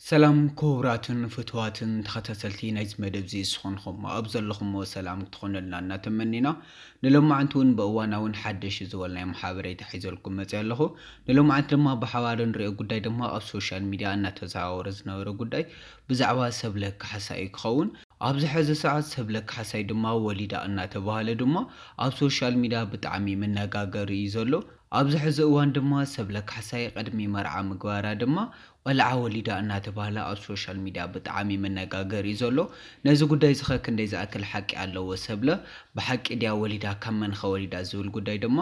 ሰላም ኩቡራትን ፍትዋትን ተኸታተልቲ ናይዚ መደብዚ ስኾንኹም ኣብ ዘለኹሞ ሰላም ትኾነልና እናተመኒና ንሎማዓንቲ ውን ብእዋናውን ሓደሽ ዝበልናዮም ሓበሬታ ሒዘልኩም መጺኣ ኣለኹ ንሎማዓንቲ ድማ ብሓባር ንሪኦ ጉዳይ ድማ ኣብ ሶሻል ሚድያ እናተዘዋወረ ዝነበረ ጉዳይ ብዛዕባ ሰብለ ካሕሳ እዩ ክኸውን ኣብዚ ሕዚ ሰዓት ሰብለ ካሕሳይ ድማ ወሊዳ እናተባህለ ድማ ኣብ ሶሻል ሚድያ ብጣዕሚ መነጋገሪ እዩ ዘሎ ኣብዚ ሕዚ እዋን ድማ ሰብለ ካሕሳይ ቕድሚ መርዓ ምግባራ ድማ ቖልዓ ወሊዳ እናተባህለ ኣብ ሶሻል ሚድያ ብጣዓሚ መነጋገሪ እዩ ዘሎ ነዚ ጉዳይ እዚኸ ክንደይ ዝኣክል ሓቂ ኣለዎ ሰብለ ብሓቂ ድያ ወሊዳ ካብ መንኸ ወሊዳ ዝብል ጉዳይ ድማ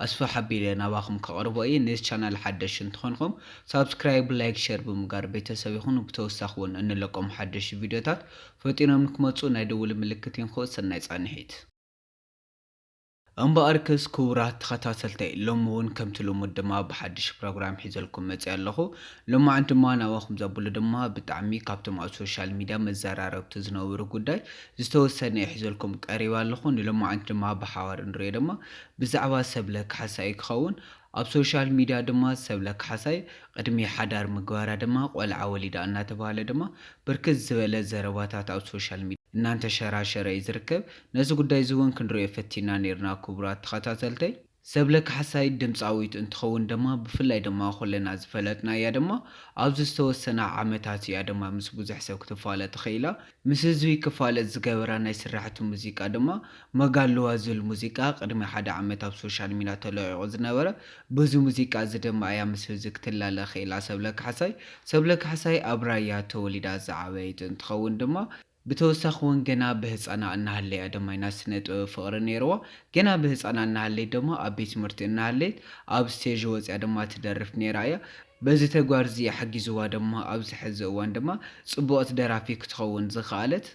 ኣስፍሕ ኣቢለ ናባኹም ከቕርቦ እየ ነዚ ቻናል ሓደሽቲ እንትኾንኹም ሳብስክራይብ ላይክ ሸር ብምጋር ቤተሰብ ይኹኑ ብተወሳኺ ውን እንለቆም ሓደሽቲ ቪድዮታት ፈጢኖም ንክመፁ ናይ ደውል ምልክት ይንክኡ ሰናይ ፃንሒት። እምበኣርክስ ክቡራት ተኸታተልተይ ሎሚ ውን ከምቲ ልሙድ ድማ ብሓድሽ ፕሮግራም ሒዘልኩም መጺኣ ኣለኹ። ሎማዓንቲ ድማ ናባኹም ዘብሎ ድማ ብጣዕሚ ካብቶም ኣብ ሶሻል ሚድያ መዘራረብቲ ዝነበሩ ጉዳይ ዝተወሰነ እየ ሒዘልኩም ቀሪበ ኣለኹ። ንሎማዓንቲ ድማ ብሓባር እንሪኦ ድማ ብዛዕባ ሰብለ ካሕሳይ እዩ ክኸውን። ኣብ ሶሻል ሚድያ ድማ ሰብለ ካሕሳይ ቕድሚ ሓዳር ምግባራ ድማ ቖልዓ ወሊዳ እናተብሃለ ድማ ብርክት ዝበለ ዘረባታት ኣብ ሶሻል ሚድያ እናንተሸራሸረ እዩ ዝርከብ። ነዚ ጉዳይ እዚ ውን ክንርእዮ ፈቲና ኔርና ኩቡራት ተኸታተልተይ። ሰብለ ካሕሳይ ድምጻዊት እንትኸውን ደማ ብፍላይ ደማ ኩልና ዝፈለጥናያ ደማ ኣብዚ ዝተወሰና ዓመታት ኢያ ደማ ምስ ቡዙሕ ሰብ ክትፋለጥ ኽኢላ ምስ ህዝቢ ክፋለጥ ዝገበራ ናይ ስራሕቲ ሙዚቃ ደማ መጋሉዋ ዝብል ሙዚቃ ቅድሚ ሓደ ዓመት ኣብ ሶሻል ሚዳ ተለቂቁ ዝነበረ በዚ ሙዚቃ እዚ ደማ ኢያ ምስ ህብዚ ክትላለ ኽኢላ ሰብለ ካሕሳይ ሰብለ ካሕሳይ ኣብ ራያ ተወሊዳ ዝዓበየት እንትኸውን ደማ ብተወሳኺ ውን ገና ብህጻና እናሃለያ ድማ ኢና ስነ ጥበብ ፍቕሪ ነይርዋ ገና ብህጻና እናሃለይት ድማ ኣብ ቤት ትምህርቲ እናሃለይት ኣብ ስቴዥ ወጽያ ድማ ትደርፍ ነይራ እያ በዚ ተግባር እዚ ሓጊዝዋ ድማ ኣብዚ ሐዚ እዋን ድማ ጽቡቕት ደራፊ ክትኸውን ዝኸኣለት።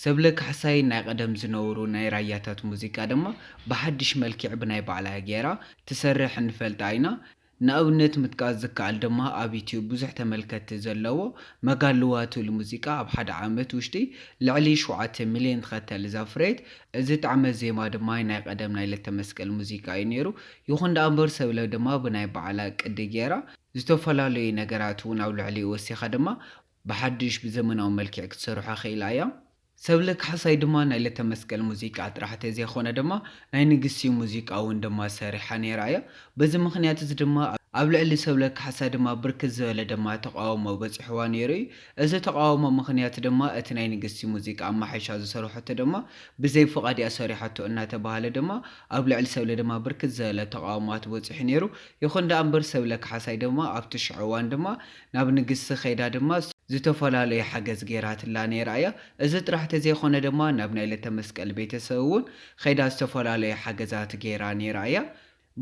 ሰብለ ካሕሳይ ናይ ቐደም ዝነውሩ ናይ ራያታት ሙዚቃ ድማ ብሓድሽ መልኪዕ ብናይ ባዕላ ገይራ ትሰርሕ ንፈልጣ ኢና ንኣብነት ምጥቃስ ዝከኣል ድማ ኣብ ዩትዩብ ብዙሕ ተመልከትቲ ዘለዎ መጋሉዋ ትብል ሙዚቃ ኣብ ሓደ ዓመት ውሽጢ ልዕሊ ሸውዓተ ሚልዮን ተኸታሊ ዘፍረየት እዚ ጣዕመ ዜማ ድማ ናይ ቐደም ናይ ለተመስቀል ሙዚቃ እዩ ነይሩ ይኹን ደኣምበር ሰብለ ድማ ብናይ ባዕላ ቅዲ ገይራ ዝተፈላለዩ ነገራት እውን ኣብ ልዕሊኡ ወሲኻ ድማ ብሓዱሽ ብዘመናዊ መልኪዕ ክትሰርሖ ኽኢላ እያ። ሰብለ ካሕሳይ ድማ ናይ ለተመስቀል ሙዚቃ ጥራሕ ተዘይኮነ ድማ ናይ ንግስቲ ሙዚቃ እውን ድማ ሰሪሓ ነይራ እያ። በዚ ምኽንያት እዚ ድማ ኣብ ልዕሊ ሰብለ ካሕሳይ ድማ ብርክት ዝበለ ድማ ተቓውሞ በፂሑዋ ነይሩ እዩ። እዚ ተቓውሞ ምኽንያት ድማ እቲ ናይ ንግስቲ ሙዚቃ ኣማሓይሻ ዝሰርሐቶ ድማ ብዘይ ፍቓድ እያ ሰሪሓቶ እናተብሃለ ድማ ኣብ ልዕሊ ሰብለ ድማ ብርክት ዝበለ ተቓውሞዋት በፂሑ ነይሩ። ይኹን ድኣ እምበር ሰብለ ካሕሳይ ድማ ኣብቲ ሽዑ እዋን ድማ ናብ ንግስቲ ከይዳ ድማ ዝተፈላለዩ ሓገዝ ገይራትላ ነይራ እያ። እዚ ጥራሕ ተዘይኮነ ድማ ናብ ናይ ለተመስቀል ቤተሰብ እውን ከይዳ ዝተፈላለዩ ሓገዛት ገይራ ነይራ እያ።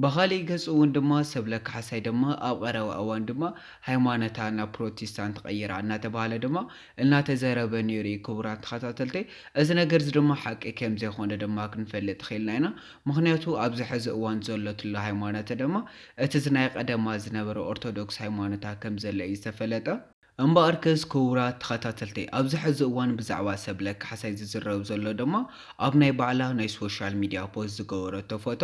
ብኻሊእ ገፅ እውን ድማ ሰብለ ካሕሳይ ድማ ኣብ ቐረባ እዋን ድማ ሃይማኖታ ናብ ፕሮቲስታንት ቐይራ እናተብሃለ ድማ እናተዘረበ ነይሩ እዩ። ክቡራት ተኸታተልተይ እዚ ነገር እዚ ድማ ሓቂ ከምዘይኮነ ድማ ክንፈልጥ ኺኢልና ኢና። ምኽንያቱ ኣብዚ ሐዚ እዋን ዘሎትሉ ሃይማኖተ ድማ እቲ ዝናይ ቐደማ ዝነበረ ኦርቶዶክስ ሃይማኖታ ከም ዘሎ እዩ ዝተፈለጠ። እምበኣርከስ ክቡራት ተኸታተልተይ ኣብዚ ሕዚ እዋን ብዛዕባ ሰብለ ካሕሳይ ዝዝረብ ዘሎ ድማ ኣብ ናይ ባዕላ ናይ ሶሻል ሚድያ ፖስት ዝገበረቶ ፎቶ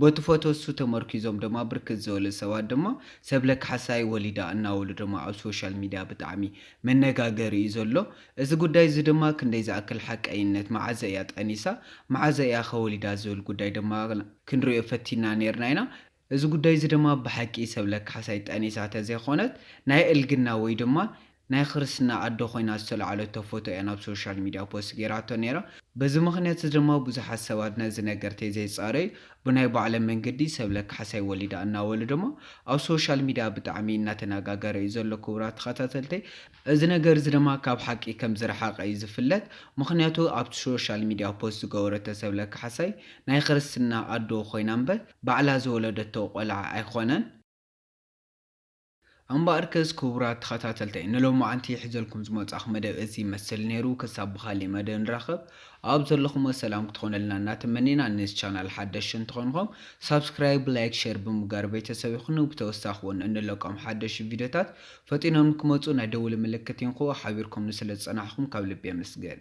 በቲ ፎቶ እሱ ተመርኪዞም ድማ ብርክት ዝበሉ ሰባት ድማ ሰብለ ካሕሳይ ወሊዳ እናበሉ ድማ ኣብ ሶሻል ሚድያ ብጣዕሚ መነጋገሪ እዩ ዘሎ እዚ ጉዳይ እዚ ድማ ክንደይ ዝኣክል ሓቀይነት፣ መዓዘ እያ ጠኒሳ፣ መዓዘ እያ ከ ወሊዳ ዝብል ጉዳይ ድማ ክንርእዮ ፈቲንና ኔርና ኢና። እዚ ጉዳይ እዚ ድማ ብሓቂ ሰብለ ካሕሳይ ጠኒሳ ተዘይኮነት ናይ እልግና ወይ ድማ ናይ ክርስትና ኣዶ ኮይና ዝተልዓለቶ ፎቶ እያ ናብ ሶሻል ሚድያ ፖስት ጌራቶ ኔራ። በዚ ምኽንያት እዚ ድማ ብዙሓት ሰባት ነዚ ነገር ተይዘይጻረዩ ብናይ ባዕሎም መንገዲ ሰብለ ካሕሳይ ወሊዳ እናበሉ ድማ ኣብ ሶሻል ሚድያ ብጣዕሚ እናተነጋገረ እዩ ዘሎ ክቡራት ተኸታተልተይ። እዚ ነገርዚ ድማ ካብ ሓቂ ከም ዝረሓቐ እዩ ዝፍለጥ ምኽንያቱ ኣብቲ ሾሻል ሚድያ ፖስት ዝገበረቶ ሰብለ ካሕሳይ ናይ ኽርስትና ኣዶ ኾይና እምበር ባዕላ ዝወለደቶ ቆልዓ ኣይኾነን። እምበኣርከስ ክቡራት ተኸታተልተይ ንሎማዓንቲ ሒዘልኩም ዝመፃኹ መደብ እዚ ይመስል ነይሩ ክሳብ ብኻሊእ መደብ ንራኸብ ኣብ ዘለኹሞ ሰላም ክትኾነልና እናተመኔና ንዚ ቻናል ሓደሽቲ እንተኾንኹም ሳብስክራይብ ላይክ ሸር ብምግባር ቤተሰብ ይኹኑ ብተወሳኺ ውን እንለቆም ሓደሽቲ ቪድዮታት ፈጢኖም ክመጹ ናይ ደውሊ ምልክት ይንክኡ ሓቢርኩምኒ ስለ ዝጸናሕኩም ካብ ልቢ የመስግን።